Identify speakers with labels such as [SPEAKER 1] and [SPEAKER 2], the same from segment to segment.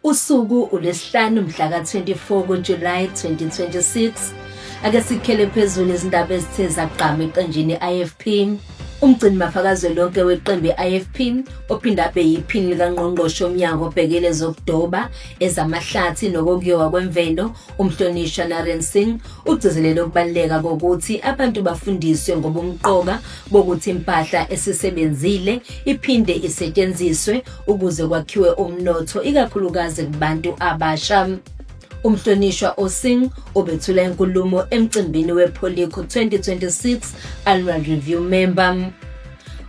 [SPEAKER 1] Usuku ulesihlanu mhla ka-24 kuJulayi 2026. Ake sikhele phezulu izindaba ezithe zagqama eqenjini i-IFP. Umgcini mafakazwe lonke weqembu i-IFP ophinde abe yiphini likangqongqoshe omnyango obhekele zokudoba, ezamahlathi nokokuyowa kwemvelo Umhlonishwa Naren Singh ugcizelele ukubaluleka kokuthi abantu bafundiswe ngobumqoka bokuthi impahla esisebenzile iphinde isetshenziswe ukuze kwakhiwe umnotho ikakhulukazi kubantu abasha. Umhlonishwa Osing obethula inkulumo emcimbini wePolico 2026 Annual Review Member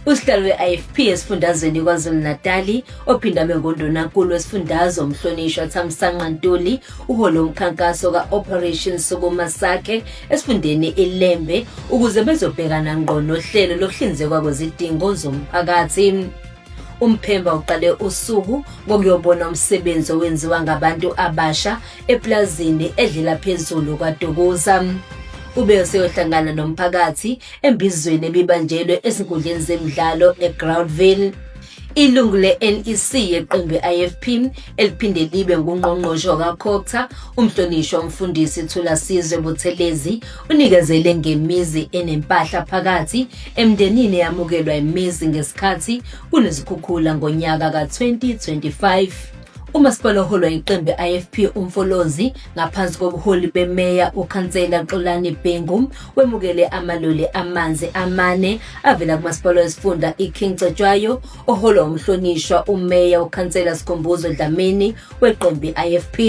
[SPEAKER 1] Usihlalo we-IFP esifundazweni KwaZulu-Natali ophinda mengondonankulu wesifundazwe umhlonishwa Thamsanqa Ntuli uhole umkhankaso ka-Operation Sukuma Sake esifundeni iLembe ukuze bezobhekana ngqo nohlelo lokuhlinzekwa kwezidingo zomphakathi. Umphemba uqale usuku ngokuyobona umsebenzi owenziwa ngabantu abasha eplazini edlela phezulu kwaDukuza. ube useyohlangana nomphakathi Embizweni ebibanjelwe ezinkundleni zemidlalo eGroundville, ilungu le-NEC yeqembu i-IFP eliphinde libe ngungqongqoshe wakaCogta umhlonishwa umfundisi Thulasizwe Buthelezi unikezele ngemizi enempahla phakathi emndenini eyamukelwa imizi ngesikhathi kunezikhukhula ngonyaka ka-2025. Umasipala oholwa yiqembu IFP uMfolozi ngaphansi kobuholi bemeya uKhansela Xolani Bhengu wemukele amaloli amanzi amane avela kumasipala wesifunda iKing Cetshwayo oholwa umhlonishwa umeya uKhansela Sikhumbuzo Dlamini weqembu IFP.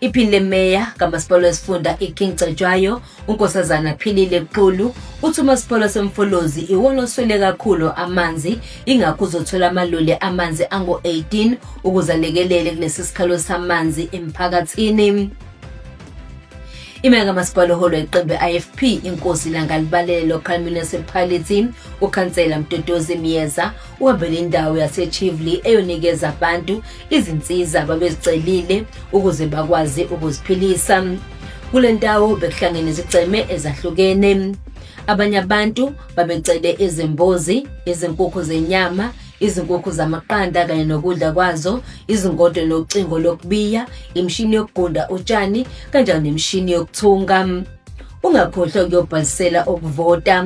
[SPEAKER 1] Iphini lemeya kamasipala wesifunda iKing Cetshwayo UNkosazana Philile Xulu uthi umasipala semfolozi iwona oswele kakhulu amanzi ingakho uzothola amaloli amanzi angu-18 ukuze alekelele kulesi sikhalo samanzi emphakathini imeka masipala oholo iqembu ifp inkosi langalibalele local municipality ukhansela mdodozi myeza Wavela indawo yaseChivli eyonikeza abantu izinsiza babezicelile ukuze bakwazi ukuziphilisa. Kule ndawo bekuhlangene izigceme ezahlukene. Abanye abantu babecele izimbuzi, izinkukhu zenyama, izinkukhu zamaqanda kanye nokudla kwazo, izingodo nocingo lokubiya, imishini yokugunda utshani kanjalo nemishini yokuthunga. Ungakhohlwa ukuyobhalisela ukuvota.